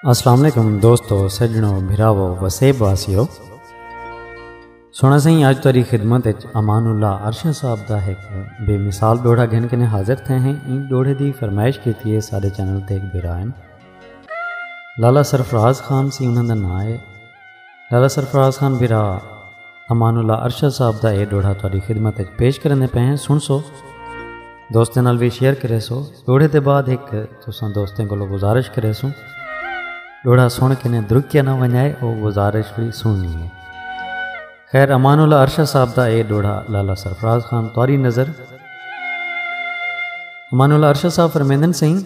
السلام علیکم دوستو سجنو بھراو وسیب واسیو سونا سائیں آج تاری خدمت اچ امان اللہ عرشہ صاحب دا ایک بے مثال ڈوڑا گھن کنے حاضر تھے ہیں این ڈوڑے دی فرمائش کیتی ہے سارے چینل تے ایک بھرائن لالا سرفراز خان سی انہاں دا نام ہے دادا سرفراز خان بھرا امان اللہ ارشد صاحب دا اے ڈوڑھا تہاڈی خدمت وچ پیش کرنے پے ہیں سن سو دوستیں نال بھی شیئر کرے سو ڈوڑھے دے بعد ایک تساں دوستیں کولو گزارش کرے سو ڈوڑھا سن کے نے درکیا نہ ونجائے او گزارش بھی سننی ہے خیر امان اللہ ارشد صاحب دا اے ڈوڑھا لالا سرفراز خان تواری نظر امان اللہ ارشد صاحب فرمیندن سائیں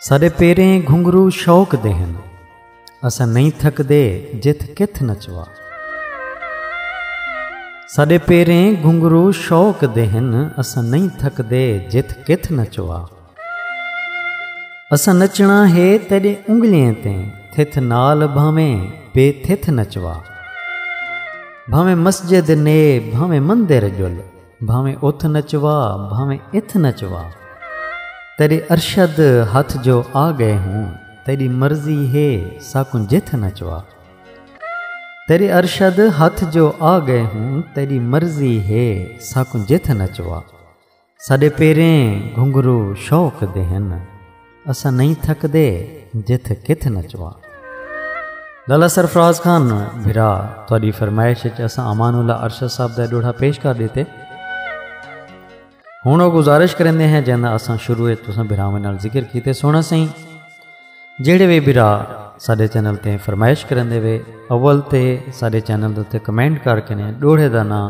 سارے پیریں گھنگرو شوق دے ہیں اساں نئیں تھکدے جتھ کتھ نچوا ساڈے پیریں گھنگرو شوق دے ہن اساں نہیں تھکدے جتھ کتھ نچوا اساں نچنا ہے تیڈے انگلیاں تے تھتھ نال بھاویں بے تھتھ نچوا بھاویں مسجد نے بھاویں مندر جل بھاویں اتھ نچوا بھاویں اتھ نچوا تیڈے ارشد ہتھ جو آ گئے ہوں تیڈی مرضی ہے ساکوں جتھ نچوا تیڈے ارشد ہتھ جو آ گئے ہوں تیڈی مرضی ہے ساکوں جتھ نچوا ساڈے پیریں گھنگرو شوق دے ہن اساں نہیں تھکدے جتھ کتھ نچواں لالا سرفراز خان بھرا تاری فرمائش اساں امان اللہ ارشد صاحب دا ڈوڑا پیش کر دیتے ہوں وہ گزارش کرنے ہیں جن اساں شروع تساں بھراواں نال ذکر کیتے سونا سائیں جہے بھی بھرا سارے چینل تے فرمائش کرنے وے اول تے سارے چینل تے کمنٹ کر کے ڈوڑے دا نام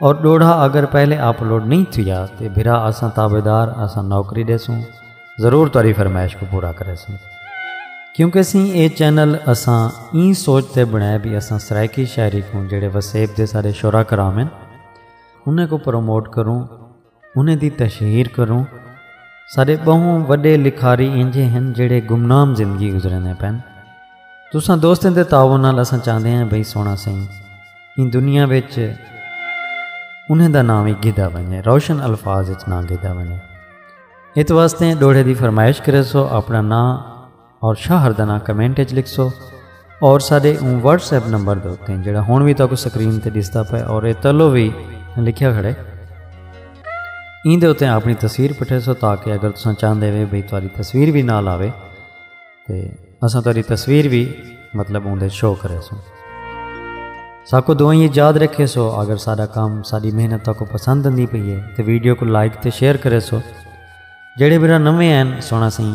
اور ڈوڑھا اگر پہلے اپلوڈ نہیں تھیا تے بھرا اساں تابعدار اساں نوکری ڈیسوں ضرور تاری فرمائش کو پورا کرے سوں کیونکہ سی اے چینل اساں این سوچتے بنائے بھی اساں سرائیکی شاعری کوں جڑے وسیب دے سارے شعرا کرامن انہیں کو پروموٹ کروں انہیں دی تشہیر کروں ساڈے بہوں وڈے لکھاری انجھے ہیں جڑے گمنام زندگی گزرنے پین تساں دوستیں دے تعاون نال اساں چاہندے ہیں بھئی سونا سائیں ان دنیا وچ انہیں دا نام ہی گدا بنے روشن الفاظ وچ نہ گدا بنے ات واسطے ڈوڑے دی فرمائش کرے سو اپنا نام اور شہر دا نام کمنٹ اچ لکھسو اور ساڈے اون واٹس ایپ نمبر دے اوتے جڑا ہن وی تاکو سکرین تے ڈسدا پے اور اے تلو وی لکھیا کھڑے این دے اوتے اپنی تصویر پٹھیسو تاکہ اگر تساں چاہندے وے بھئی تاری تصویر وی نال آوے تے اساں تاری تصویر وی مطلب اون دے شو کرے سو ساکو دوائیں یاد رکھے سو اگر سارا کام ساری محنت تاکو پسند نہیں پئی ہے تے ویڈیو کو لائک تے شیئر کرے سو جڑے میرا نویں ہیں سونا سائیں